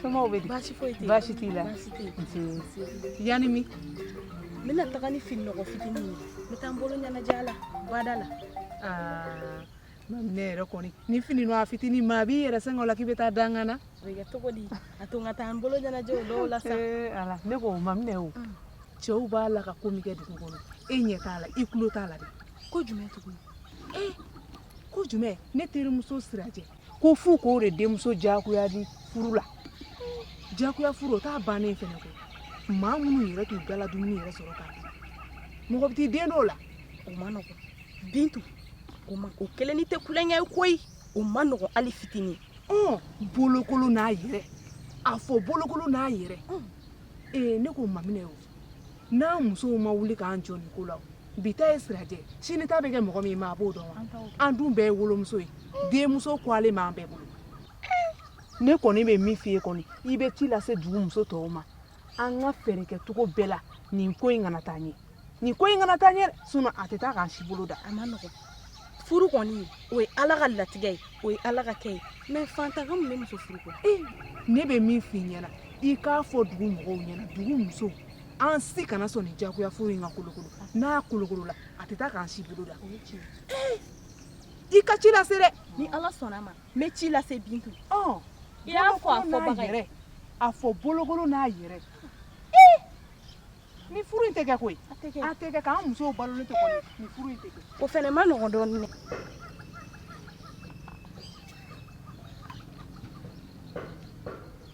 Somaw bɛ di? Baasi foyi tɛ yen. Baasi t'i la? Baasi tɛ yen. Nse. Yan ni min? N bɛna taga ni fini nɔgɔ fitinin ye. N bɛ taa n bolo ɲɛnajɛ a la, bada la. Aa, Maminɛ yɛrɛ kɔni, nin fini nɔgɔ fitinin maa b'i yɛrɛ sɛgɛn o la k'i bɛ taa dankan na? O bɛ kɛ cogo di? A to n ka taa n bolo ɲɛnajɛ o dɔw la sa. Ee ala, ne ko Maminɛ o, cɛw b'a la ka ko min kɛ dugu kɔnɔ, e ɲɛ t'a la, i tulo t'a la dɛ. Ko jumɛn tugun? Ee, ko jumɛn? Ne terimuso Sirajɛ. ko fo k'o de denmuso diyagoya di furu la diyagoya furu o ta bannen fana ko maa minnu yɛrɛ t'u dala dumuni yɛrɛ sɔrɔ k'a dun mɔgɔ bɛ t'i den dɔw la o man nɔgɔn bintu o ma o kelen ni tɛ kulonkɛ ye koyi o man nɔgɔn hali fitinin ɔ bolokolon n'a yɛrɛ a fɔ bolokolon n'a yɛrɛ ee ne ko maminɛ o n'an musow ma wuli k'an jɔ nin ko la o bi ta ye sirajɛ sini ta bɛ kɛ mɔgɔ min maa b'o dɔn wa an dun bɛɛ ye wolomuso ye denmuso kɔgɔlen b'an bɛɛ bolo ne kɔni bɛ min f'i ye kɔni i bɛ ci lase dugu muso tɔw ma an ka fɛɛrɛ kɛ cogo bɛɛ la nin ko in kana taa ɲɛ nin ko in kana taa ɲɛ sinon a tɛ taa k'an si bolo da a man nɔgɔn furu kɔni o ye ala ka latigɛ ye o ye ala ka kɛ ye mais fantan ka mun bɛ muso furu ko ne bɛ min f'i ɲɛna i k'a fɔ dugu mɔgɔw ɲɛna dugu musow an si kana sɔn nin jagoya furu in ka kolokolo n'a kolokolola a tɛ taa k'an si bolo da i ka ci lase dɛ ni ala sɔnna a ma n bɛ ci lase bintu ɔ i y'a fɔ a fɔbaga yɛrɛ a fɔ bolokolon n'a yɛrɛ ni furu in tɛ kɛ koyi a tɛ kɛ k'an musow balolen to kɔni ni furu in tɛ kɛ o fɛnɛ man nɔgɔn dɔɔnin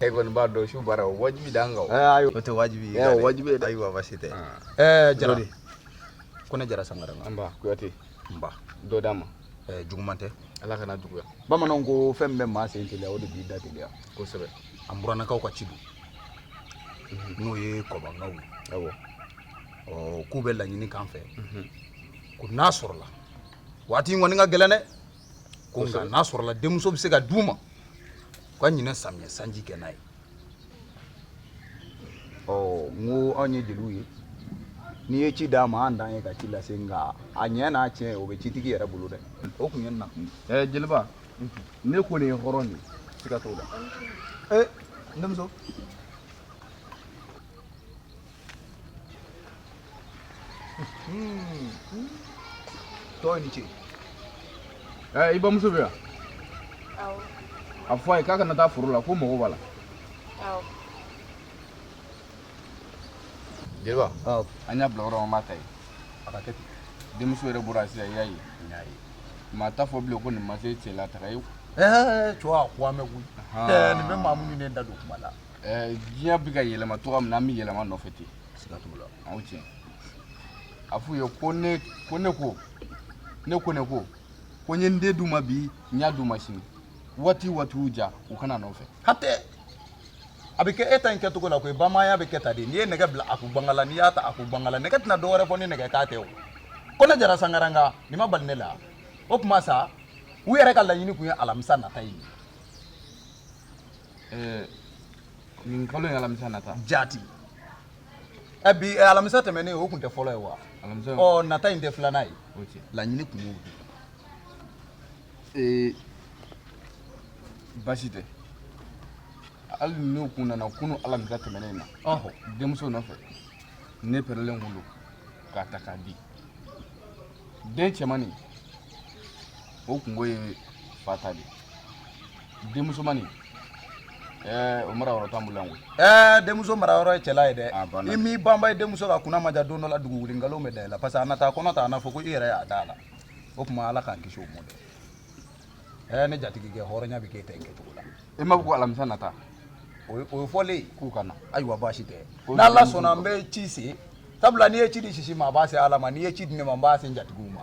e kɔni b'a dɔn su baara o wajibi d'an kan o. ɛɛ ayi o tɛ wajibi ye. ɛɛ o wajibi ye dɛ. ayiwa baasi tɛ. ɛɛ jara de konɛ jara sankaranka. nba kuyate. nba dɔ d'an ma. ɛɛ juguman tɛ. ala kan'a juguya. bamananw ko fɛn min bɛ maa sen teliya o de b'i da teliya. kosɛbɛ. an buranakaw ka ci don. n'o ye kɔbankaw ye. awɔ. ɔ k'u bɛ laɲini k'an fɛ. ko n'a sɔrɔla waati in kɔni ka gɛlɛn dɛ. ko nka n'a sɔrɔla denmuso bɛ se ka d'u ma u ka ɲinan samiyɛ sanji kɛ n'a ye ɔ n ko anw ye jeliw ye n'i ye ci d'an ma an dan ye ka ci lase nka a ɲɛ n'a tiɲɛ o bɛ citigi yɛrɛ bolo dɛ o tun ye nakun ye ɛɛ jeliba ne kɔni ye hɔrɔn de ye siga t'o la ee n denmuso tɔɔ ni ce ɛɛ i bamuso bɛ yan a fɔ a ye k'a kana taa foro la ko mɔgɔ b'a la jeliba an y'a bila yɔrɔ min an b'a ta yen a ka kɛ ten denmuso yɛrɛ bɔra sisan i y'a ye maa t'a fɔ bilen ko nin ma se cɛla taga ye cɛw a ko an bɛ koyi nin bɛ maa minnu ne da don kuma la ɛɛ diɲɛ bɛ ka yɛlɛma cogoya min na an bɛ yɛlɛma nɔfɛ ten siga t'o la aw tiɲɛ a f'u ye ko ne ko ne ko ko n ye n den d'u ma bi n y'a d'u ma sini waati waati y'u ja u ka n'a nɔfɛ hatɛ a bɛ kɛ e ta in kɛcogo la koyi bamananya bɛ kɛ tan de n'i ye nɛgɛ bila a ko bangala n'i y'a ta a ko bangala nɛgɛ tɛna dɔwɛrɛ fɔ ni nɛgɛ kan tɛ o ko ne jara sankaranka nin ma bali ne la o tuma sa u yɛrɛ ka laɲini kun ye alamisa nata ye Ɛɛ nin kalo in alamisa nata. Jaati. Ɛ bi alamisa tɛmɛnen o kun tɛ fɔlɔ ye wa. alamisa. ɔ nata in tɛ filanan ye. o tiɲɛ. laɲini kun y'o de ee baasi tɛ hali n'u kun nana kunu alamisa tɛmɛnen na. ɔhɔ. denmuso nɔfɛ ne pɛrɛlen kun don k'a ta k'a di. den cɛmani o kunko ye fa ta de denmusomani ɛɛ o mara yɔrɔ t'an bolo yan koyi ɛɛ denmuso mara yɔrɔ ye cɛla ye dɛ ah, i m'i banba i denmuso kan kunna ma ja don dɔ la dugu wuli nkalon bɛ da i la parce que a na taa kɔnɔ ta a na fɔ ko i yɛrɛ y'a da a la o tuma ala k'an kisi o ma dɛ ɛ ne jatigikɛ hɔrɔnya bɛ k'e ta in kɛcogo la i m'a fɔ ko alamisa nata o ye fɔlen ye k'u ka na ayiwa baasi tɛ n'ala sɔnna n bɛ ci se sabula n'i ye ci di sisi ma a b'a se ala ma n'i ye ci di ne ma n b'a se n jatigiw ma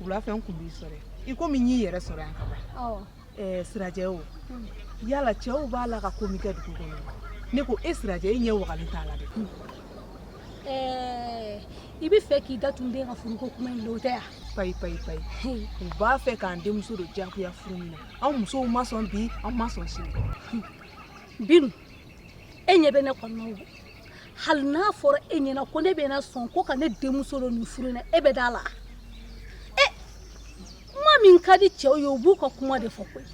wulafɛ n kun b'i sɔrɔ i komi n y'i yɛrɛ sɔrɔ yan ka ban ɛɛ sirajɛ o yala cɛw b'a la ka ko min kɛ dugu kɔnɔ ne ko e sirajɛ e ɲɛ wagalen t'a la dɛ ɛɛ i b'a fɛ k'i datugu den ka furuko kuma in l'o tɛ yan payi payi payi u b'a fɛ k'an denmuso don diyagoya furu min na an musow ma sɔn bi an ma sɔn sini binu e ɲɛ bɛ ne kɔnɔ hali n'a fɔra e ɲɛna ko ne bɛna sɔn ko ka ne denmuso don nin furu in na e bɛ d'a la e kuma min ka di cɛw ye u b'u ka kuma de fɔ koyi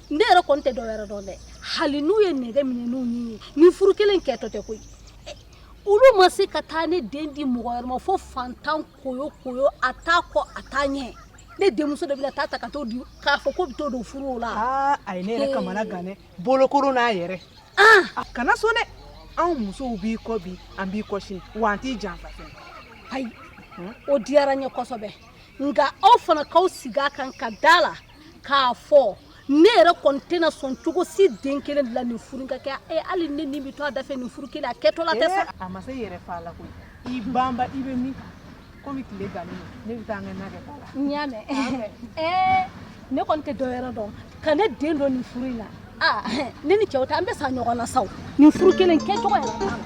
ne yɛrɛ kɔni tɛ dɔwɛrɛ dɔn dɛ hali n'u ye nɛgɛ minɛ n'u ɲin ye nin furu kelen kɛtɔ tɛ koyi e, olu ma se ka taa ne den di mɔgɔ wɛrɛ ma fo fantan koyo koyo a t'a kɔ a t'a ɲɛ ne denmuso de bɛna taa ta ka t'o di k'a fɔ ko bɛ t'o don furu o la a ye ne yɛrɛ kamanagan dɛ bolokoro n'a yɛrɛ a kana sɔn dɛ anw musow b'i kɔ bi an b'i kɔ sini wa an t'i janfa fɛn ayi o diyara n ye kosɛbɛ nka aw fana k'aw sigi a kan ka da la k'a fɔ ne yɛrɛ kɔni tɛna sɔn cogo si den kelen de la nin furu in ka kɛ e hali ne ni bɛ to a dafɛ nin furu kelen a kɛtɔla tɛ sa a ma se yɛrɛ fa la koyi i banba i bɛ min kan komi tile gannen don ne bɛ taa an ka na kɛ ta la n y'a mɛn ɛɛ ne kɔni tɛ dɔ wɛrɛ dɔn ka ne den don nin furu in na aa ne ni cɛw tɛ an bɛ sa ɲɔgɔn na saw nin furu kelen kɛcogo yɛrɛ t'a la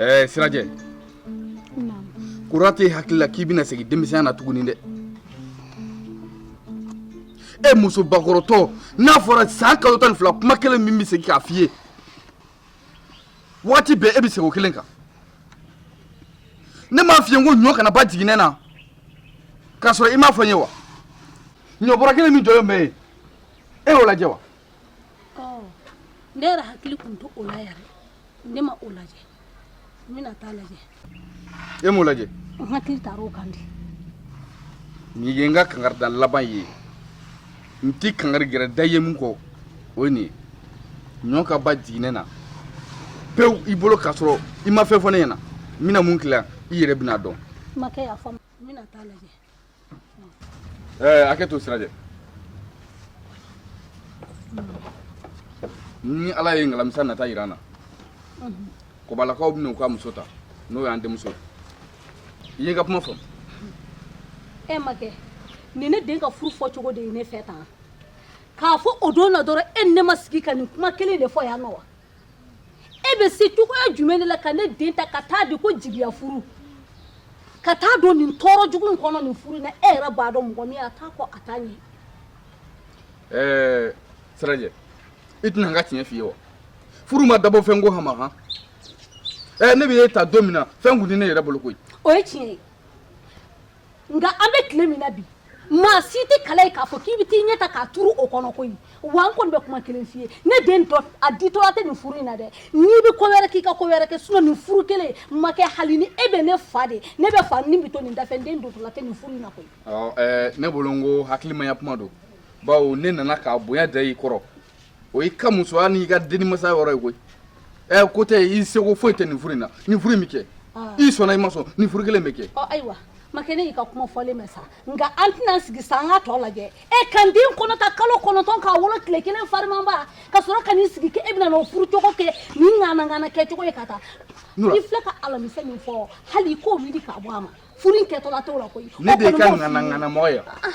ɛɛ eh, sirajɛ kura t'e hakili la k'i bɛna segin denmisɛnya na tuguni dɛ e muso bakɔrɔtɔ n'a fɔra san kalo tan ni fila kuma kelen min n bɛ segin k'a f'i ye waati bɛɛ e bɛ segin o kelen kan ne m'a f'i ye ko ɲɔ kana ban jiginɛ na k'a sɔrɔ i m'a fɔ n ye wa ɲɔ bɔrɛ kelen min jɔlen bɛ yen e y'o lajɛ wa ne yɛrɛ hakili tun t'o la yɛrɛ ne ma o lajɛ n bɛna taa lajɛ e m'o lajɛ n hakili taara o kan de nin ye n ka kankarida laban ye n ti kankari gɛrɛ da ye min kɔ o ye nin ye ɲɔ ka ban jiginɛ na pewu i bolo k'a sɔrɔ i ma fɛn fɔ ne ɲɛna n bɛna min k'i la i yɛrɛ bɛn'a dɔn makɛ n y'a faamu n bɛna taa lajɛ Ee, hakɛ to sirajɛ ni ala ye ngalamisa nata yira an na kɔbalakaw bɛna u ka muso ta n'o y'an denmuso ye i ye n ka kuma faamu e makɛ nin ne den ka furu fɔcogo de ye ne fɛ tan k'a fɔ o don na dɔrɔn e ni ne ma sigi ka nin kuma kelen de fɔ yan nɔ wa e bɛ se cogoya jumɛn de la ka ne den ta ka taa di ko jigiya furu ka taa don nin tɔɔrɔ jugu in kɔnɔ nin furu na e yɛrɛ b'a dɔn mɔgɔ min a t'a kɔ a t'a ɲɛ ɛɛ sirajɛ i tɛ na n ka tiɲɛ f'i ye wa furu ma dabɔ fɛnko hama han ɛɛ ne bɛ e ta don min na fɛn kun tɛ ne yɛrɛ bolo koyi o ye tiɲɛ ye nka an bɛ tile min na bi maa si tɛ kala ye k'a fɔ k'i bɛ t'i ɲɛ ta k'a turu o kɔnɔ koyi wa n kɔni bɛ kuma kelen f'i ye ne den don a ditɔla tɛ nin furu in na dɛ n'i bɛ ko wɛrɛ k'i ka ko wɛrɛ kɛ sinɔn nin furu kelen makɛ hali ni e bɛ ne fa de ne bɛ fa n ni bɛ to nin dafɛ n den dontɔla tɛ nin furu in na koyi. ne bolo n ko hakilimaya kuma don bawo ne nana k'a bonya da i kɔrɔ o y'i ka musoya n'i ka denimasa yɔrɔ ye koyi ɛ ko tɛ i seko foyi tɛ nin furu in na nin furu in bɛ kɛ ah. i sɔnna i ma sɔn nin furu kelen bɛ kɛ ɔ ayiwa makɛ ne y'i ka kuma fɔlen mɛn sa nka an tɛna sigi sa an ka tɔ lajɛ ne ka n den kɔnɔ ta kalo kɔnɔntɔn k'a wolo tile kelen farimanba ka sɔrɔ ka n'i sigi k'e bɛna n'o furu cogo kɛ nin ŋanaŋana kɛcogo ye ka taa i filɛ ka alamisa min fɔ hali i k'o wuli k'a bɔ a ma furu in kɛtɔla t'o la koyi ne de y'i ka ŋanaŋanamɔgɔ ye ah, ah.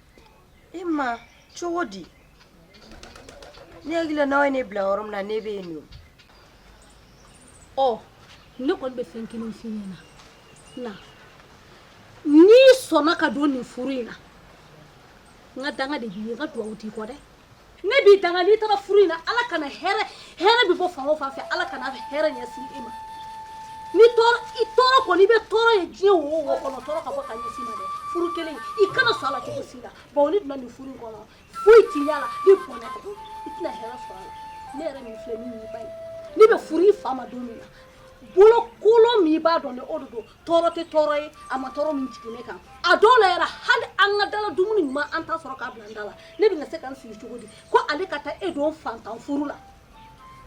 e ma cogo di ne hakili la n'aw ye ne bila yɔrɔ min na ne bɛ yen nɔ ɔ ne kɔni bɛ fɛn kelen f'i ɲɛna na n'i sɔnna ka don nin furu in na n ka danga de b'i ye n ka dugawu t'i kɔ dɛ ne b'i danga n'i taara furu in na ala kana hɛrɛ hɛrɛ bɛ bɔ fan o fan fɛ ala kana hɛrɛ ɲɛsin i ma ni tɔɔrɔ i tɔɔrɔ kɔni i bɛ tɔɔrɔ ye diɲɛ wo o wo kɔnɔ tɔɔrɔ ka bɔ ka ɲɛsin i ma dɛ furu kelen i kana sɔn a la cogo si la bawo n'e donna nin furu in kɔnɔ foyi t'i y'a la ni bɔnɛ tɛ i tɛna hɛrɛ sɔrɔ a la ne yɛrɛ min filɛ min y'i ba ye ne bɛ furu i fa ma don min na bolokolon min i b'a dɔn dɛ o de don tɔɔrɔ tɛ tɔɔrɔ ye a ma tɔɔrɔ min jigin ne kan a dɔw la yɛrɛ hali an ka dala dumuni ɲuman an t'a sɔrɔ k'a bila an da la ne bɛna se ka n sigi cogo di ko ale ka taa e don fantan furu la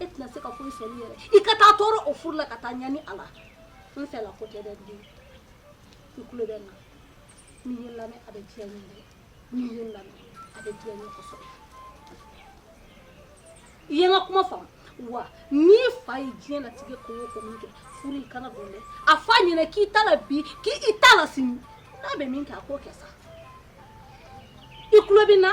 e tɛna se ka foyi sɔrɔ yɛrɛ i ka taa tɔɔrɔ o furu la ka taa ɲani a la n fɛla ko tɛ dɛ n den i tulo bɛ n na n'i ye n lamɛn a bɛ diya n ye dɛ N'i ye n lamɛn a bɛ diya n ye kosɛbɛ. I ye n ka kuma faamu wa? N'i fa ye diɲɛ latigɛ ko o ko min kɛ, furu i kana don dɛ, a fɔ a ɲɛna k'i t'a la bi, k'i t'a la sini, n'a bɛ min kɛ a k'o kɛ sa. I tulo bɛ n na?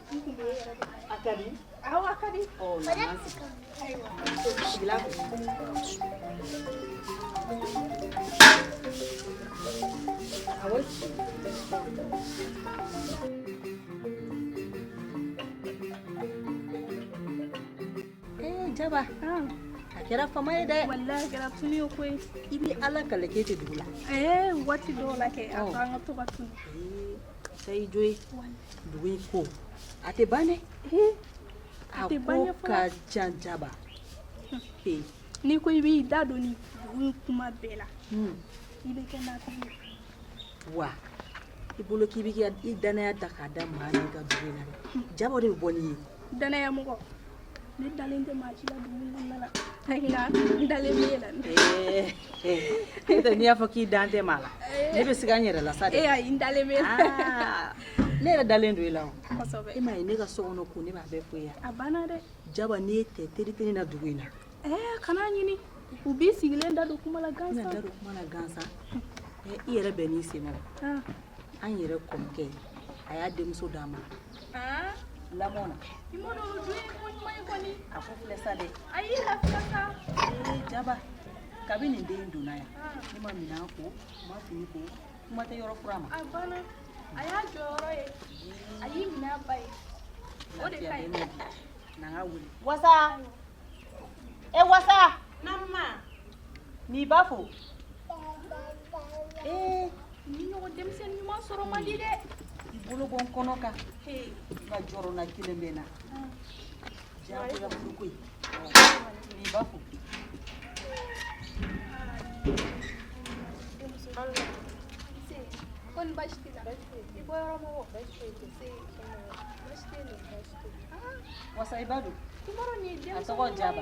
jaba ah. a kɛra fama ye dɛ wallahi kɛra tunun ye koyi i bɛ ala kali k'e tɛ dugu la ee eh, waati dɔw la kɛ a ko an ka to ka tunu sa i jo ye dugu in ko a tɛ ban dɛ a ko ka jan jaba n'i ko i b'i da don nin dugu kuma bɛɛ la i bɛ kɛ naafigi ye wa i bolo k'i bɛ i danaya ta k'a da maa min kan dugu in na dɛ jaba de bɛ bɔ n'i ye danaya mɔgɔ ne dalen tɛ maa si la dugu kɔnɔna la n dalen bɛ e la n'o tɛ n'i y'a fɔ k'i dan tɛ maa la ne bɛ siga n yɛrɛ la sa dɛ ee ayi n dalen bɛ e la ne yɛrɛ dalen don i la o kosɛbɛ e m'a ye ne ka so kɔnɔ ko ne b'a bɛɛ fɔ i ye a banna dɛ jaba n'e tɛ teri tɛ ne na dugu in na ɛɛ kana ɲini u b'i sigilen da don kuma la gansan da don kuma la gansan i yɛrɛ bɛn n'i sen na an yɛrɛ kɔrɔkɛ a y'a denmuso d'a ma ah lamɔna i m'a dɔn o dun ko ɲuman kɔni a ko filɛ sa dɛ ayi lafiya sa eh jaba kabini den donna yan ah. ne ma minɛn ko ma fini ko kuma tɛ yɔrɔ furan ma a banna a y'a jɔyɔrɔ ye a y'i minɛ a ba ye o de ka ɲi na n k'a wele wasa e wasa naamu n'i ba fo ee nin ɲɔgɔn denmisɛnni ɲuman sɔrɔ man di dɛ i bolo bɔ n kɔnɔ kan nka jɔrɔna kelen bɛ n na diyagoya furu koyi n'i ba fo ko ni baasi t'i la i bɔ yɔrɔ mɔgɔ baasi t'i la se baasi t'i la baasi t'i la wasa i ba don a tɔgɔ jaba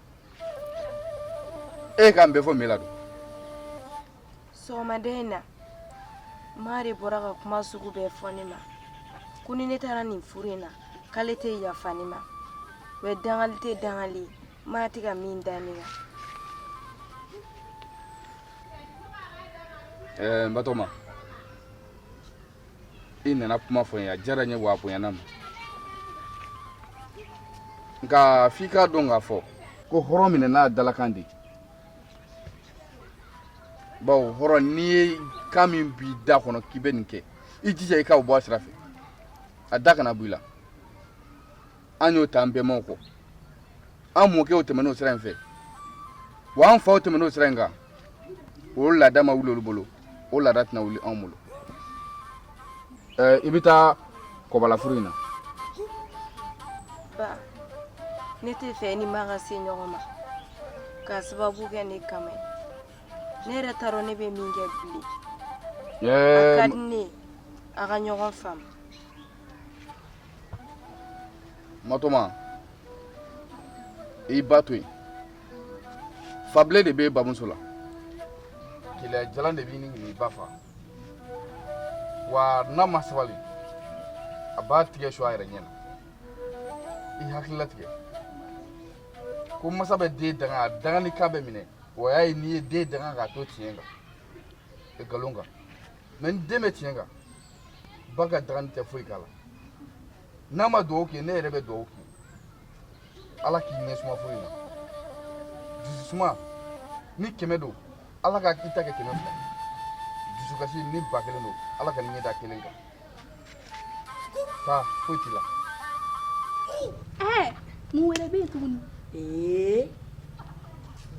e kan bɛ fɔ mun la don sɔgɔmada in na ma de bɔra ka kuma sugu bɛɛ fɔ ne ma ko ni ne taara nin furu in na k'ale tɛ yafa ne ma o ye dangali tɛ dangali ye ma tɛ ka min da ne kan ɛɛ n batoma i nana kuma fɔ n ye a diyara n ye wa a bonyana n ma nka f'i k'a dɔn k'a fɔ ko hɔrɔn minɛ n'a dalakan de bawo hɔrɔn n'i ye kan min b'i da kɔnɔ k'i bɛ nin kɛ i jija i k'o bɔ a sira fɛ a da kana bɔ i la an y'o ta an bɛnbaw kɔ an mɔkɛw tɛmɛn'o sira in fɛ wa an faw tɛmɛn'o sira in kan o laada ma wuli olu bolo o laada tɛna wuli anw bolo i bɛ taa kɔbalafuru in na ba ne tɛ fɛ i ni ma ka se ɲɔgɔn ma k'a sababu kɛ ne kama ye ne yɛrɛ t'a dɔn ne bɛ min kɛ bilen a ka di ne ye a ka ɲɔgɔn faamu matɔma i ba to yen fa bilen de bɛ bamuso la keleya jalan de bɛ ɲini k'i ba fa wa n'a ma sabali a b'a tɛgɛ su a yɛrɛ ɲɛ na i hakili latigɛ ko masa bɛ den danga a dangani kan bɛ minɛ o y'a ye n'i ye den danga k'a to tiɲɛ kan nkalon kan mɛ ni den bɛ tiɲɛ kan ba ka dangani tɛ foyi k'a la n'a ma dugawu k'i ye ne yɛrɛ bɛ dugawu k'i ye ala k'i ɲɛ suma furu in na dususuma ni kɛmɛ don ala k'i ta kɛ kɛmɛ fila dusukasi ni ba kelen don ala kan'i ɲɛ da kelen kan taa foyi t'i la ɛɛ mun wɛrɛ bɛ yen tuguni ee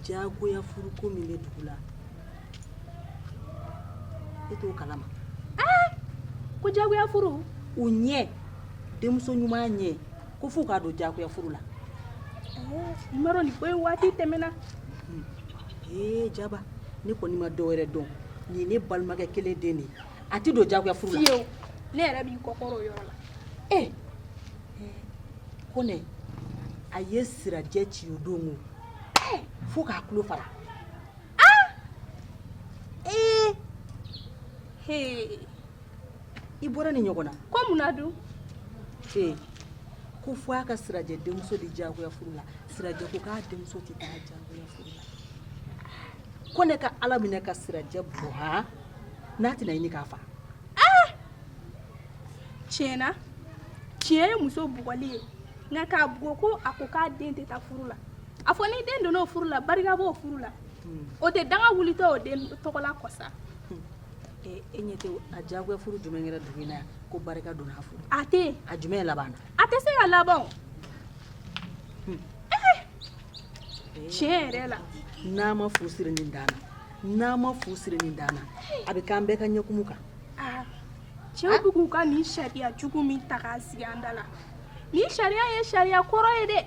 jagoya furuko min bɛ dugu la e t'o kalama aa ko jagoya furu o ɲɛ denmuso ɲuman ɲɛ ko f'u k'a don jagoya furu la i m'a dɔn nin ko in waati tɛmɛna ee jaba ne kɔni ma dɔ wɛrɛ dɔn nin ye ne balimakɛ kelen den de ye a tɛ don jagoya furu la fiyewu ne yɛrɛ b'i kɔkɔrɔ o yɔrɔ la ee kɔnɛ a ye sirajɛ ci o don o fo k'a tulo fara i bɔra ni ɲɔgɔn na ko mun na dun ko fo a ka sirajɛ denmuso di jagoya furu la sirajɛ ko k'a denmuso tɛ taa diyagoya furu la kɔnɛ ka ala minɛ ka sirajɛ bugɔ han n'a tɛna ɲini k'a fa tiɲɛna cɛ ye muso bugɔli ye nka k'a bugɔ ko a ko k'a den tɛ taa furu la a fɔ ni den donna o furu la barika b'o furu la o tɛ danga wulitɔ o den tɔgɔla kɔsa e ɲɛ tɛ a diyagoya furu jumɛn kɛra dugu in na yan ko barika donna a furu a tɛ a jumɛn labanna a tɛ se ka laban o tiɲɛ yɛrɛ la n'a ma fu siri nin dan na n'a ma fu siri nin dan na a bɛ k'an bɛɛ ka ɲɛkumu kan aa cɛw bɛ k'u ka nin sariya jugu min ta k'a sigi an da la nin sariya ye sariya kɔrɔ ye dɛ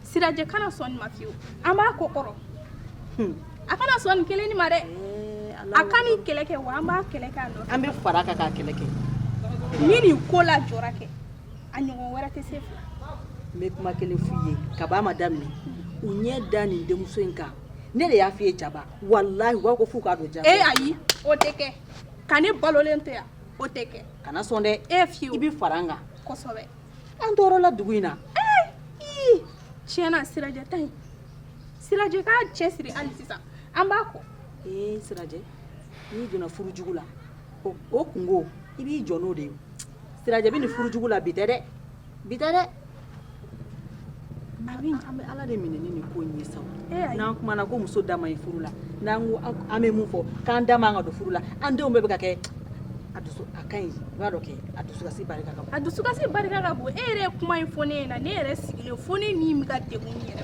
sirajɛ kana sɔn nin ma fiyewu an b'a kɔkɔrɔ hmm. a kana sɔn nin kelen nin ma dɛ eh, a ka nin kɛlɛ kɛ wa an b'a kɛlɛ kɛ a nɔfɛ an bɛ fara a kan k'a kɛlɛ kɛ ni nin ko lajɔra kɛ a ɲɔgɔn wɛrɛ tɛ se fila n bɛ kuma kelen f'u ye kab'a ma daminɛ u ɲɛ da nin denmuso in kan ne de y'a f'i ye jaba walahi u b'a ko f'u k'a don jaba ee eh, ayi o tɛ kɛ ka ne balolen to yan o tɛ kɛ kana sɔn dɛ e fiyewu i bɛ fara n kan kosɛbɛ an tɔɔrɔla dugu in na tiɲɛna sirajɛ ta in sirajɛ k'a cɛsiri hali sisan an b'a kɔ ee sirajɛ n'i donna furu jugu la o o kunko i b'i jɔ n'o de ye sirajɛ bɛ nin furu jugu la bi tɛ dɛ bi tɛ dɛ A bɛ an bɛ ala de minɛ ni nin ko in ye sa n'an kumana ko muso da man ɲi furu la n'an ko an bɛ mun fɔ k'an da man kan ka don furu la an denw bɛɛ bɛ ka kɛ a dusu a ka ɲi i b'a dɔn kɛ a dusukasi barika ka bon a dusukasi barika ka bon e yɛrɛ ye kuma in fɔ ne ɲɛna ne yɛrɛ sigilen fo ne ni bɛ ka degun n yɛrɛ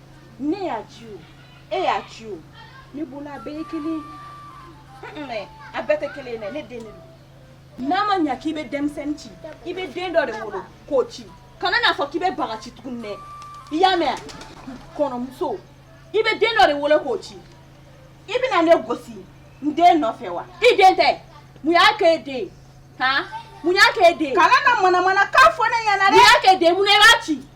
ne y'a ci o e y'a ci o ne bolo a bɛɛ ye kelen ye a bɛɛ tɛ kelen ye dɛ ne den de don n'a ma ɲa k'i bɛ denmisɛnnin ci i bɛ den dɔ de wolo k'o ci kana n'a fɔ k'i bɛ baga ci tuguni dɛ i y'a mɛn kɔɲɔmuso i bɛ den dɔ de wolo k'o ci i bɛna ne gosi n den nɔfɛ wa i den tɛ mun y'a kɛ e den han mun y'a kɛ e den kana na manamanakan fɔ ne ɲɛna dɛ mun y'a kɛ e den mun na i b'a ci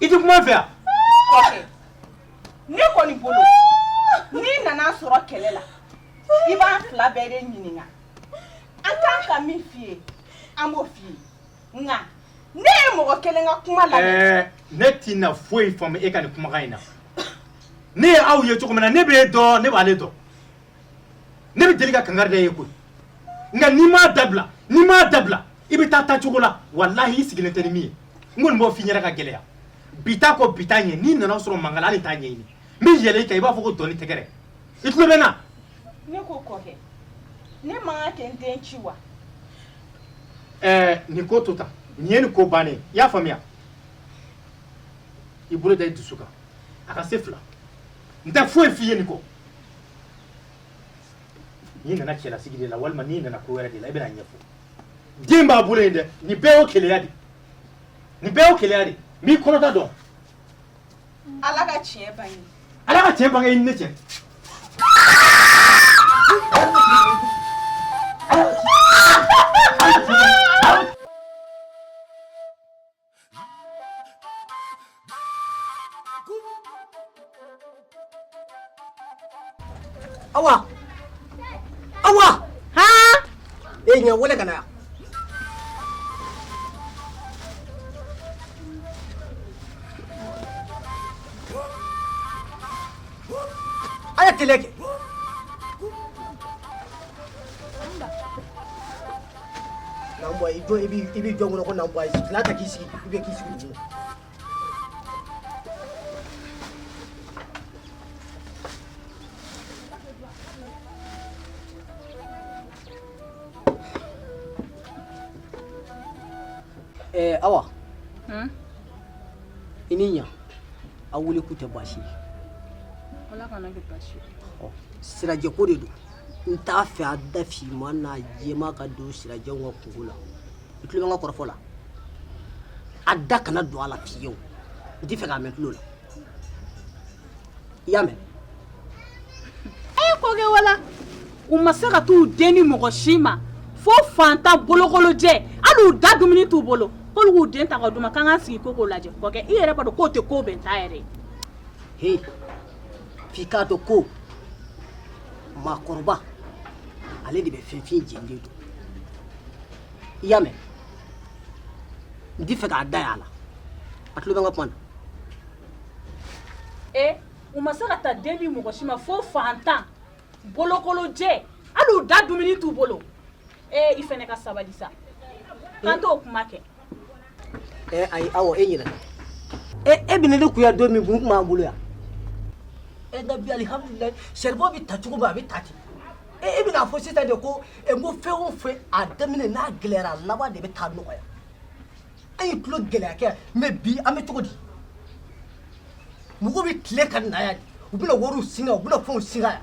I tɛ kuma n fɛ yan ne kɔni bolo n'i nana sɔrɔ kɛlɛ la i b'an fila bɛɛ de ɲininka an kan ka min f'i ye an b'o f'i ye nka ne ye mɔgɔ kelen ka kuma lamɛn ne tɛna foyi faamu e ka nin kumakan in na ne ye aw ye cogo min na ne b'e dɔn ne b'ale dɔn ne bɛ deli ka kankari da e ye koyi nka n'i m'a dabila n'i m'a dabila i bɛ taa taacogo la walahi i sigilen tɛ ni min ye n kɔni b'o f'i ɲɛna ka gɛlɛya bi ta kɔ bi ta ɲɛ n'i nana sɔrɔ mankan na hali t'a ɲɛɲini n bɛ yɛlɛ i kan i b'a fɔ ko dɔn ni tɛgɛrɛ i tulo bɛ n na ne ko kɔkɛ ne man kan ka n den ci wa ɛɛ nin ko to tan nin ye nin ko bannen ye i y'a faamuya i bolo da i dusu kan a ka se fila n tɛ foyi f'i ye nin kɔ n'i nana cɛlasigi de la walima n'i nana ko wɛrɛ de la i bɛna a ɲɛfɔ den b'a bolo yen dɛ nin bɛɛ y'o keleya de nin bɛɛ y'o keleya de n b'i kɔnɔta dɔn ala ka tiɲɛ bange ala ka tiɲɛ bange i ni ne cɛ Awa awa ha e ɲa wele ka na yan a ye tile kɛ Nanbɔ i jɔ i b'i i b'i jɔ kɔnɔ ko nanbɔ sigilan ta k'i sigi i bɛ k'i sigi duguma. Ɛɛ awa i ni ɲa aw welekun tɛ baasi ye Ala kana kɛ baasi ye. Sirajɛ ko de don n t'a fɛ a da fiman n'a jɛma ka don sirajɛw ka kunko la i tulo bɛ n ka kɔrɔfɔ la a da kana don a la fiyewu n t'i fɛ k'a mɛn tulo la i y'a mɛn e kɔkɛ wala u ma se ka t'u den di mɔgɔ si ma fo faantan bolokolon jɛ hali u da dumuni t'u bolo k'olu k'u den ta k'a d'u ma k'an k'an sigi k'o ko lajɛ kɔkɛ i yɛrɛ b'a dɔn k'o tɛ ko bɛnta yɛrɛ ye F'i k'a dɔn ko maakɔrɔba ale de bɛ finfin jeni de don i y'a mɛn n t'i fɛ k'a da y'a la a tulo bɛ n ka kuma na e eh, u ma se ka ta den di mɔgɔ si ma fo faantan bolokolon jɛ hali u da dumuni t'u bolo ee eh, i fɛnɛ ka sabali sa k'an to kuma kɛ ɛ ayi awa e ɲinɛ e e bɛ ne de kun ya don min kun n tun b'an bolo yan nka bi alihamudulilayi saribɔn bɛ taa cogo min a bɛ taa ten e e bɛna a fɔ sisan de ko ɛ n ko fɛn o fɛn a daminɛ n'a gɛlɛyara a laban de bɛ taa nɔgɔya an ye tulo gɛlɛya kɛ mɛ bi an bɛ cogo di mɔgɔw bɛ tilen ka na yan de u bɛna wariw singa u bɛna fɛnw singa yan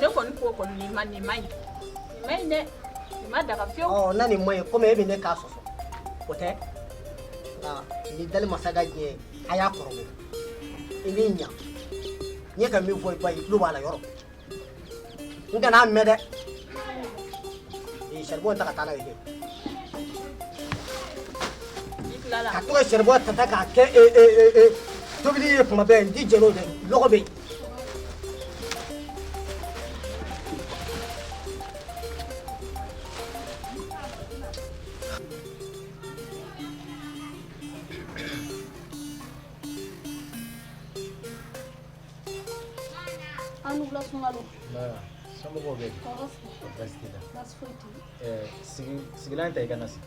ne kɔni ko kɔni nin ma nin man ɲi nin man ɲi dɛ nin ma daga fiyewu ɔ na nin man ɲi komi e bɛ ne k'a sɔsɔ o tɛ nka ni dali masa ka diɲɛ a y'a kɔrɔbɔ i b'i ɲa n ye ka min fɔ i ba ye i tulo b'a la yɔrɔ n kana a mɛn dɛ ee saribɔn ta ka taa n'a ye dɛ ka to ka saribɔn tata k'a kɛ ee ee ee tobili ye kuma bɛɛ n t'i jɛn n'o dɛ lɔgɔ bɛ yen A ni wula sunkalo somɔgɔw bɛ baasi t'u la sigilan ta i ka na sigi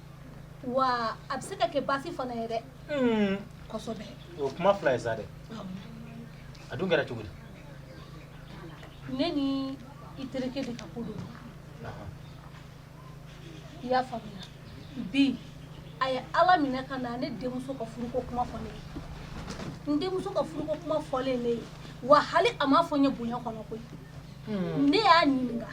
wa a bɛ se ka kɛ baasi fana ye dɛ kosɛbɛ o kuma fila ye sa dɛ a dun kɛra cogo di ne ni i terikɛ de ka ko don i y'a faamuya bi a ye ala minɛ ka na ne denmuso ka furuko kuma fɔ ne ye n denmuso ka furuko kuma fɔlen ne ye wa hali a m'a fɔ n ye bonya kɔnɔ koyi ne y'a ɲininka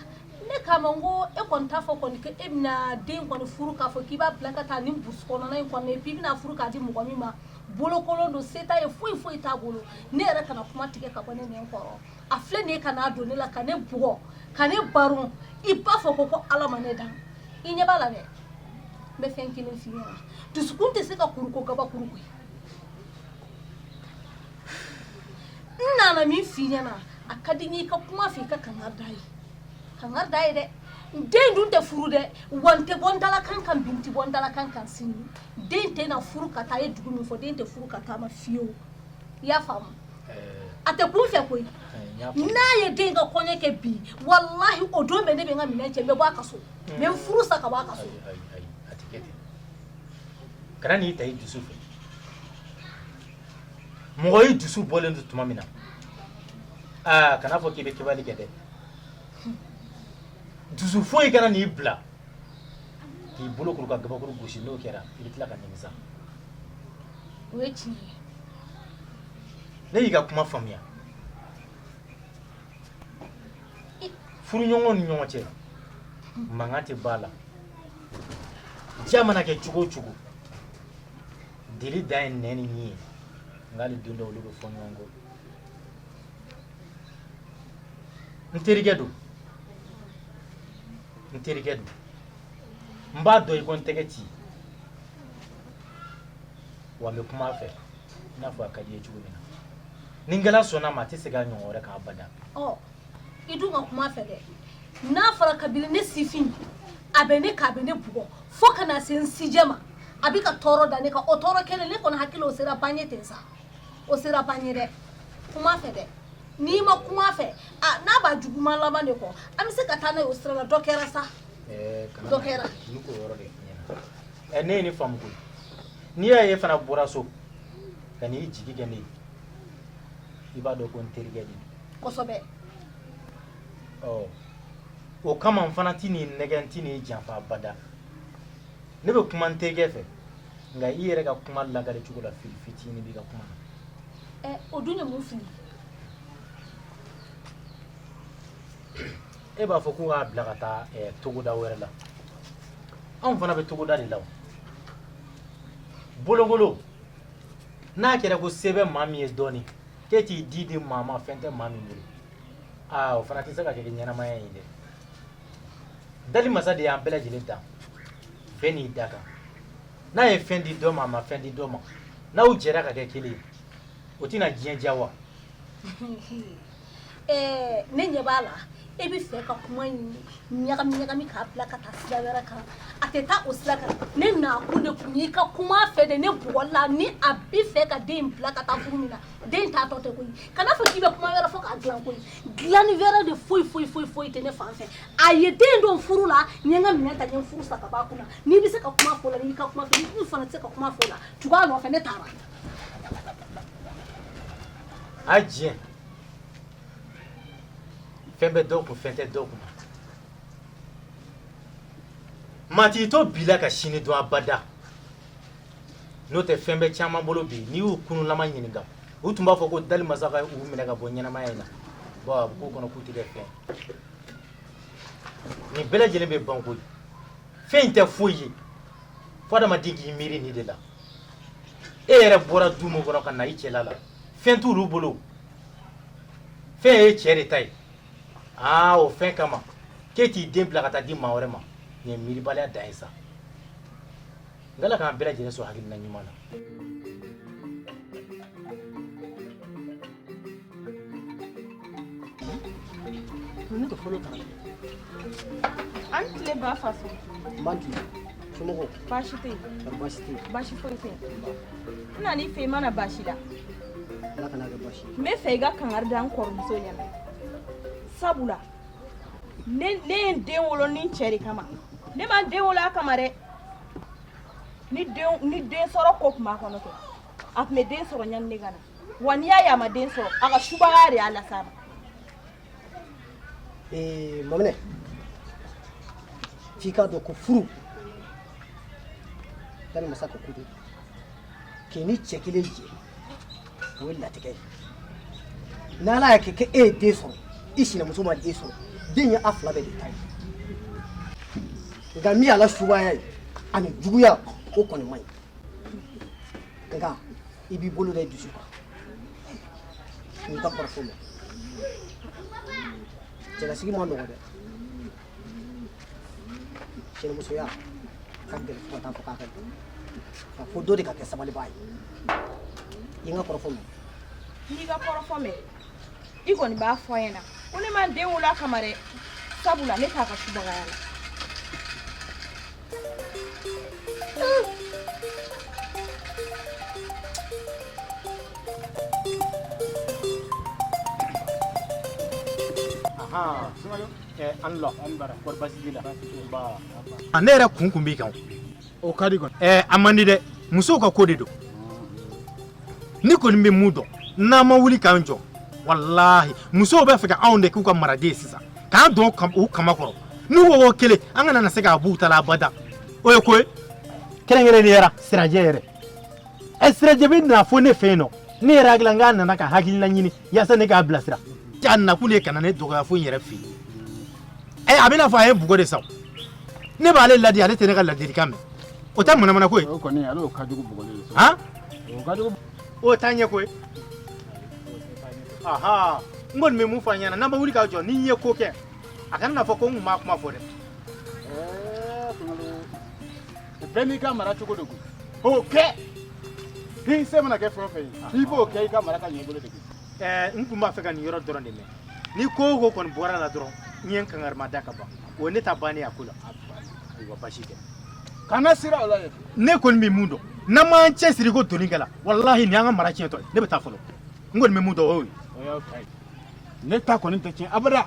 ne k'a ma n ko e kɔni t'a fɔ kɔni ko e bɛna den kɔni furu k'a fɔ k'i b'a bila ka taa ni burusi kɔnɔna in kɔnɔ puis i bɛna furu k'a di mɔgɔ min ma bolokolon don se t'a ye foyi foyi t'a bolo ne yɛrɛ kana kuma tigɛ ka bɔ ne nɛn kɔrɔ a filɛ nin ye ka n'a don ne la ka ne bugɔ ka ne baron i b'a fɔ ko ko Ala ma ne dan i ɲɛ b'a la dɛ n bɛ fɛn kelen f'i ɲɛna dusukun tɛ se ka kuru ko gabakuru koyi n nana min fɔ i ɲɛna a ka di n ye i ka kuma a fɛ i ka kangari d'a ye kangari d'a ye dɛ den dun tɛ furu dɛ wa n tɛ bɔ n dalakan kan bi n tɛ bɔ n dalakan kan sini den tɛna furu ka taa a ye dugu min fɔ den tɛ furu ka taa a ma fiyewu i y'a faamu a tɛ kun n fɛ koyi n'a ye den ka kɔɲɔ kɛ bi walahi o don bɛ ne bɛ n ka minɛn cɛ n bɛ bɔ a ka so n bɛ n furu sa ka bɔ a ka so kana n'i ta i dusu fɛ mɔgɔ i dusu bɔlen don tuma min na aa kana fɔ k'i bɛ kɛbali kɛ dɛ dusu foyi kana n'i bila k'i bolo kuru ka gabakuru gosi n'o kɛra i bɛ tila ka nimisa o ye tiɲɛ ye ne y'i ka kuma faamuya furuɲɔgɔnw ni ɲɔgɔn cɛ mankan tɛ b'a la diya mana kɛ cogo o cogo deli dan ye nɛn ni ɲin ye nka hali don dɔ olu bɛ fɔ ɲɔgɔn kɔ n terikɛ don n terikɛ don n b'a dɔn i ko n tɛgɛ ci wa n bɛ kuma a fɛ i n'a fɔ a ka di i ye cogo min na ni Ngala sɔnna a ma a tɛ segin a ɲɔgɔn wɛrɛ kan abada ɔ i dun ka kuma a fɛ dɛ n'a fɔra kabini ne sifin a bɛ ne kan a bɛ ne bugɔ fo ka na se n sijɛ ma a bɛ ka tɔɔrɔ da ne kan o tɔɔrɔ kelen ne kɔni hakili o sera ban ye ten sa o sera ban ye dɛ kuma a fɛ dɛ n'i ma kuma a fɛ a n'a b'a juguman laban de kɔ an bɛ se ka taa n'a ye o sira la dɔ kɛra sa Ɛɛ, kana Dɔ na- kɛra. n bɛ k'o yɔrɔ de f'i ɲɛna. Ɛ, ne ye ne faamu koyi n'i y'a ye e fana bɔra so ka n'i jigi kɛ ne ye i b'a dɔn ko n terikɛ de don kosɛbɛ ɔ o kama n fana tɛn'i nɛgɛn n tɛn'i janfa abada ne bɛ kuma n terikɛ fɛ nka i yɛrɛ ka kuma lakali cogo la fili fitinin b'i ka kuma na ɛ o dun ye mun fili e b'a fɔ ko k'a bila ka taa eh, togoda wɛrɛ la anw fana bɛ togoda de la o bolokolon n'a kɛra ko se bɛ maa min ye dɔɔni k'e t'i den di maa ma fɛn tɛ maa min bolo aa o fana tɛ se ka kɛ ɲɛnamaya ye dɛ dali masa de y'an bɛɛ lajɛlen dan bɛɛ n'i dakan n'a ye fɛn di dɔ ma a ma fɛn di dɔ ma n'aw jɛra ka kɛ kelen ye o tɛna diɲɛ diya wa Ɛɛ ne ɲɛ b'a la e bɛ fɛ ka kuma in ɲagami ɲagami k'a bila ka taa sira wɛrɛ kan a tɛ taa o sira kan ne nakun de kun y'i ka kuma a fɛ de ne bugɔli la ni a bɛ fɛ ka den in bila ka taa furu min na den taatɔ tɛ koyi kana fɔ k'i bɛ kuma wɛrɛ fɔ k'a dilan koyi dilanni wɛrɛ de foyi foyi foyi foyi tɛ ne fan fɛ a ye den don furu la n ye n ka minɛn ta n ye n furu sa ka bɔ a kunna n'i bɛ se ka kuma fɔ o la n'i y'i ka kuma fɔ n'i dun fana tɛ se ka kuma fɔ o la tugu a nɔfɛ ne taara A diɲɛ fɛn bɛ dɔw kun fɛn tɛ dɔw kun maa t'i to bi la ka sini dɔn abada n'o tɛ fɛn bɛ caman bolo bi n'i y'u kunulama ɲininka u tun b'a fɔ ko dali masa ka u minɛ ka bɔ ɲɛnamaya in na bon a bɛ k'u kɔnɔ k'u tɛ kɛ fɛn nin bɛɛ lajɛlen bɛ ban koyi fɛn in tɛ foyi ye fo adamaden k'i miiri nin de la e yɛrɛ bɔra du min kɔnɔ ka na i cɛla la fɛn t'olu bolo fɛn ye cɛ de ta ye aa o fɛn kama k'e t'i den bila ka taa di maa wɛrɛ ma nin ye miiribaliya dan ye sa n k'ala k'an bɛɛ lajɛlen sɔn hakilina ɲuman na Ne ka fɔlɔ kalan an tile ba faso man tile somɔgɔw baasi tɛ yen baasi tɛ yen baasi foyi tɛ yen n nan'i fɛ i ma na baasi la ala kana kɛ baasi n bɛ fɛ i ka kangari da n kɔrɔmuso ɲɛna sabula ne ne ye n den wolo ni n cɛ de kama ne ma n den wolo a kama dɛ ni den ni den sɔrɔ ko tun b'a kɔnɔ kɛ a tun bɛ den sɔrɔ ɲani ne ka na wa n'i y'a ye a ma den sɔrɔ a ka subaya de y'a las'a ma ee maminɛ f'i k'a dɔn ko furu dani masa ka ko de k'i ni cɛ kelen jɛ o ye latigɛ ye n'ala y'a kɛ kɛ e ye den sɔrɔ i sinamuso ma den sɔrɔ den ye a fila bɛɛ de ta ye nka min y'a la subaya ye ani juguya o kɔni man ɲi nka i b'i bolo da i dusu kan n y'i ka kɔrɔfɔ mɛn cɛlasigi man nɔgɔ dɛ cɛnimusoya ka gɛlɛn fo ka taa fɔ k'a ka gɛlɛn nka fo dɔ de ka kɛ sabalibaa ye i n ka kɔrɔfɔ mɛn n y'i ka kɔrɔfɔ mɛn i kɔni b'a fɔ a ɲɛna ko ne ma n den wolo a kama dɛ sabula ne t'a ka subagaya la ne yɛrɛ kun kun b'i kan o ka di kɔni ɛɛ a man di dɛ musow ka ko de don ne kɔni bɛ min dɔn n'an ma wuli k'an jɔ walahi musow bɛ fɛ ka anw de k'u ka maraden ye sisan k'an don kam- u kaman kɔrɔ n'u ko ko kelen an kana na se k'a b'u ta la abada o ye ko ye kɛrɛnkɛrɛnnenya sirajɛ yɛrɛ ɛ sirajɛ bɛ na fo ne fɛ yen nɔ ne yɛrɛ hakili la n k'a nana ka hakilina ɲini yasa ne k'a bilasira a nakun de ka na ne dɔgɔya fo n yɛrɛ fɛ yen ɛ a bɛna fɔ a ye bugɔ de sa ne b'ale ladi ale tɛ ne ka ladilikan mɛn o tɛ manamana ko ye o kɔni ale o ka jugu bugɔ de sa han o ka jugu o t'a ɲɛ ko ye aha n kɔni bɛ mun fɔ a ɲɛna n'an ma wuli ka jɔ ni n ye ko kɛ a kana n'a fɔ ko n kun ma kuma fɔ dɛ bɛɛ n'i ka mara cogo de kun o kɛ i se mana kɛ fɛn o fɛn ye i b'o kɛ i ka mara ka ɲɛ i bolo de kun. ɛɛ n tun b'a fɛ ka nin yɔrɔ dɔrɔn de mɛn ni ko o ko kɔni bɔra a la dɔrɔn n ye n kangari mada ka ban o ye ne ta bannen a ko la ayiwa basi tɛ kana siran o la yɛrɛ ne kɔni bɛ mun dɔn n'an m'an cɛsiri ko doni kɛla walahi nin y'an ka mara tiɲɛtɔ ye ne bɛ taa fɔlɔ n kɔni bɛ mun dɔn o y'o ye o y'aw ta ye ne ta kɔni tɛ tiɲɛ abada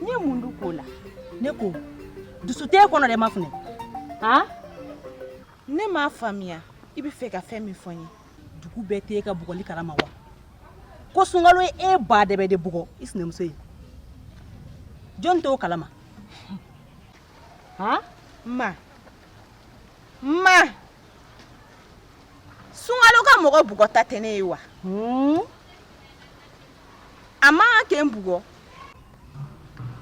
N ye mun dun k'o la ne ko dusu tɛ e kɔnɔ dɛ mafunɛ a ne m'a faamuya i b'a fɛ ka fɛn min fɔ n ye dugu bɛɛ tɛ e ka bugɔli kalama wa ko sunkalo ye e ba dɛbɛ de bugɔ i sinamuso ye jɔn t'o kalama a ma ma sunkalo ka mɔgɔ bugɔta tɛ ne ye wa a man kan ka n bugɔ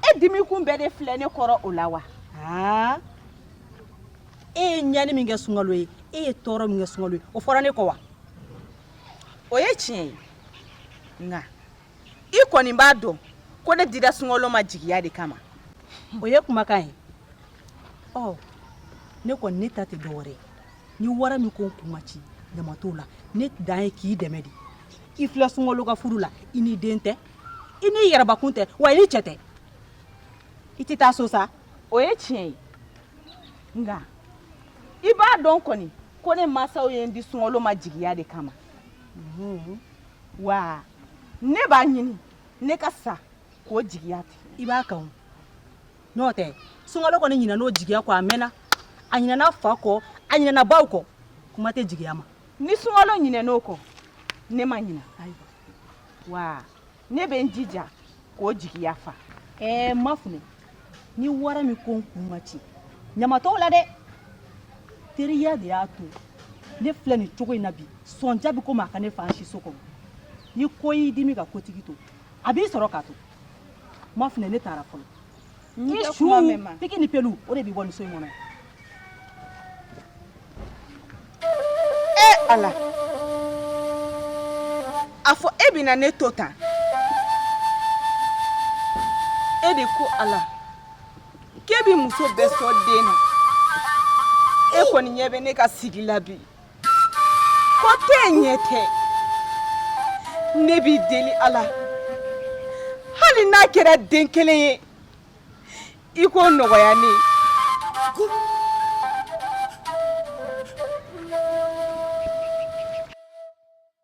e dimikun bɛɛ de filɛ ne kɔrɔ o la wa e ye ɲani min kɛ sunkalo ye e ye tɔɔrɔ min kɛ sunkalo ye o fɔra ne kɔ wa o ye tiɲɛ ye nka i kɔni b'a dɔn ko ne dira sunkalo ma jigiya de kama o ye kumakan ye ɔ ne kɔni ne ta tɛ dɔwɛrɛ ye ni wara min ko n kun ma ci ɲama t'o la ne dan ye k'i dɛmɛ de i filɛ sunkalo ka furu la i ni den tɛ i n'i yɛrɛbakun tɛ wa i ni cɛ tɛ i tɛ taa so sa o ye tiɲɛ ye nka i b'a dɔn kɔni ko ne mansaw ye n di sunkalo ma jigiya de kama wa ne b'a ɲini ne ka sa k'o jigiya tɛ i b'a kan n'o tɛ sunkalo kɔni ɲinɛna o jigiya kɔ a mɛnna a ɲinɛna a fa kɔ a ɲinɛna baw kɔ kuma tɛ jigiya ma ni sunkalo ɲinɛna o kɔ ne ma ɲina ayiwa wa ne bɛ n jija k'o jigiya fa ɛɛ mafunɛ ni wara min ko n kun ma ci ɲama t'o la dɛ teriya de y'a to ne filɛ nin cogo in na bi sɔnja bɛ komi a ka ne fa siso kɔnɔ ni ko y'i dimi ka kotigi to a b'i sɔrɔ k'a to mafunɛ ne taara fɔlɔ piki ni pelu o de b'i bɔ nin so in kɔnɔ e ala a fɔ e bɛna ne to tan e de ko ala k'e bɛ muso bɛɛ sɔn den na e kɔni ɲɛ bɛ ne ka sigi la bi kɔ tɛ ɲɛ tɛ ne b'i deli Ala hali n'a kɛra den kelen ye i k'o nɔgɔya ne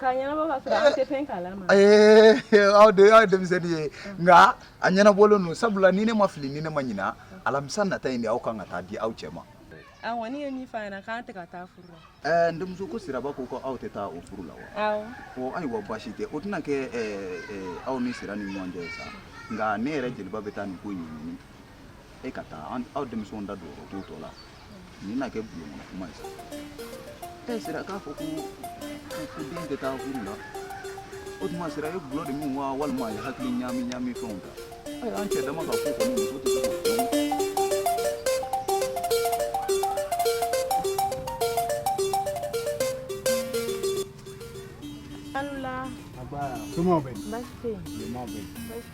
K'a ɲɛnabɔ k'a sɔrɔ an tɛ fɛn kalama, ee aw de ye denmisɛnnin ye nka a ɲɛnabɔlen don sabula ni ne ma fili ni ne ma ɲina alamisa nata in de aw ka kan ka taa di aw cɛ ma, a kɔni ye min fɔ a ɲɛna k'an tɛ ka taa furu la, ɛɛ n denmuso ko siraba ko aw tɛ taa o furu la wa, awɔ, ɔ ayiwa baasi tɛ o tɛna kɛ aw ni Sira ni ɲɔgɔn cɛ ye sa nka ne yɛrɛ jeliba bɛ taa nin ko in ɲɛɲini e ka taa aw denmisɛnw da don o t'u tɔ la nin na kɛ bulon kɔnɔ kuma ye sa e Sira k'a fɔ ko den tɛ taa furu la o tuma Sira ye dɔlɔ de min wa walima a ye hakili ɲaami ɲaami fɛnw ta awɔ an cɛ dama ka ko kɔni muso tɛ se k'o fɔ Aw ni wula, Nba, Somɔgɔw bɛ yen, basi tɛ yen, Somɔgɔw bɛ yen.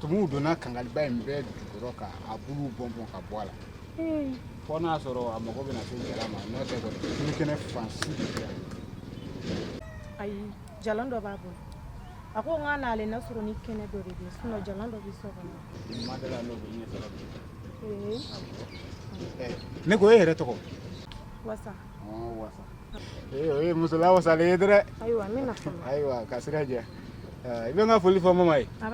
tumuw donna kangaliba in bɛɛ jukɔrɔ ka a buluw bɔn bɔn ka bɔ a la fo n'a sɔrɔ a mago bɛna se jalan ma n'o tɛ kɔni bulu kɛnɛ fansi de bɛ yan ayi jalan dɔ b'a bolo a ko n ka n'a lajɛ n'a sɔrɔ ni kɛnɛ dɔ de bɛ yen sinɔn jalan dɔ bɛ so kɔnɔ nin ma deli a n'o bɛ ɲɛ sɔrɔ bi ne ko e yɛrɛ tɔgɔ wasa Ee muso lawasalen ye dɛ ayiwa ayiwa ka sira diya i bɛ n ka foli fɔ ma ye a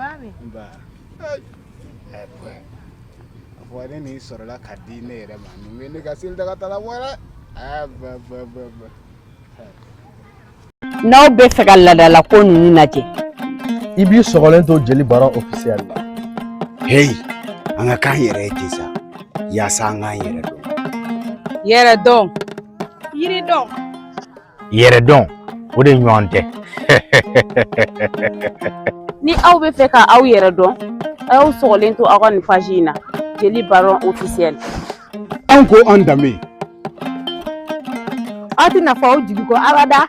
ne nin sɔrɔla ka di ne yɛrɛ ma nin ne ka seli daga ta la n'aw bɛ fɛ ka laadala ko ninnu lajɛ i b'i sɔgɔlen to jeli baron ofisiyɛli la heyi an ka k'an yɛrɛ ye ten sa yaasa an k'an yɛrɛ dɔn yɛrɛ dɔn yiri dɔn yɛrɛ dɔn o de ɲɔgɔn tɛ ni aw bɛ fɛ ka aw yɛrɛ dɔn a y'aw sɔgɔlen to aw ka nin paji in na jeli baron ofisiyɛli an ko an danbe aw tɛna fɔ aw jigi kɔ abada